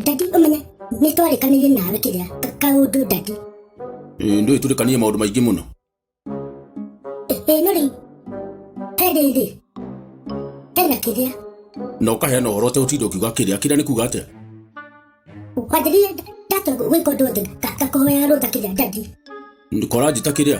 dadi ũmenye nĩ twarĩkanĩire nawe kĩrĩa kaũndũ dadi ndũ ĩtũrĩkanie maũndũ maingĩ mũno ĩĩ no rĩu he rĩrĩ hena kĩrĩa na ũkaheana ũhoro ũte ũtinda ũkiuga kĩrĩa kĩrĩa nĩ kuga atĩa kwanjĩrire ndatua gwĩka ũndũ wothe ngakũhoya rũtha kĩrĩa dadi kora njĩta kĩrĩa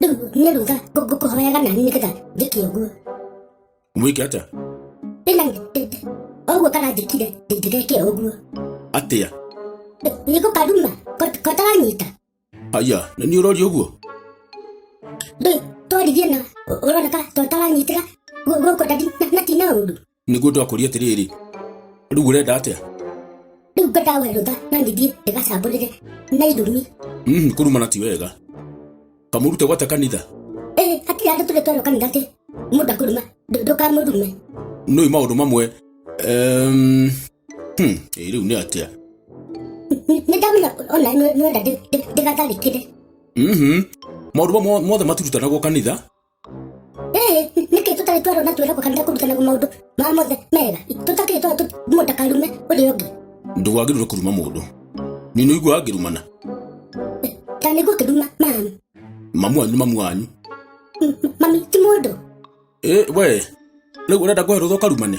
rĩu nĩ ruga ngũkũhoyaga nani nĩgetha njĩke ũguo mwĩke atĩa ĩna ũguo karanjĩkire ndingĩgeke ũguo atĩa nĩ gũkaruma kotaranyita aya na nĩ ũroria ũguo rĩu twaririe na ũroneka totaranyitĩra gũkũ ndati na tina ũru nĩguo ndakũria atĩrĩrĩ rĩu ũrenda atĩa rĩu ngwendaga werũtha na ngĩthiĩ ndĩgacambũrĩre na ithurumi Mhm, kũrumana ti wega kamũrute gwate kanitha ĩĩ hatirĩ andũ tũrĩ twerwo kanitha atĩ mũndũ akũruma ndũ- ndũkamũrume nĩũĩ maũndũ mamwe Em, hmm, ĩ, rĩu nĩ atĩa Nĩ- nĩ ndamenya ona nĩ- nĩwenda ndĩ- ndĩ- ndĩgatharĩkĩre Mhm. maũndũ mamwe mothe maturutanagwo kanitha Eh, nĩkĩ tũtarĩ twarwo na twĩragwo kanitha kũrutanaga maũndũ ma mothe mega tũtakĩrĩ twarwo tũ- mũndũ ndakarume ũrĩa ũngĩ ndũgagĩrĩrwo kũruma mũndũ nino igua ngĩrumana ta nĩguo kĩruma mami mamu wanyu nĩ mamu wanyu M- m- mami ti mũndũ Eh, we rĩu ũrenda kũhe rũtha ũkarumane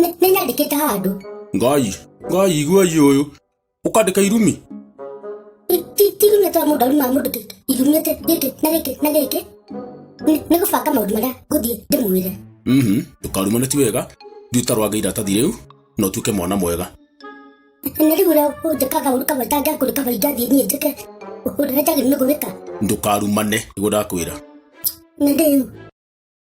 Nĩ- nĩ nyandĩkĩte handũ ngai ngai igua iye ũyũ ũkandĩka irumi Ti- ti- ti irumi twa mũndũ aruma mũndũ kĩ- irumĩte gĩkĩ na gĩkĩ na gĩkĩ Nĩ- nĩ gũbanga maũndũ marĩa ngũthiĩ ndĩmwĩre Mhm, ndũkarumane ti wega thiĩ ũtarwange iratathi rĩu na ũtuĩke mwana mwega na rĩu ũrĩa ũnjĩkaga ũru kamwe itangĩakũrĩ kamwe ingathiĩ niĩ njĩke ũrĩa njagĩrĩirwo nĩ gwĩka ndũkarumane nĩguo ndakwĩra na rĩu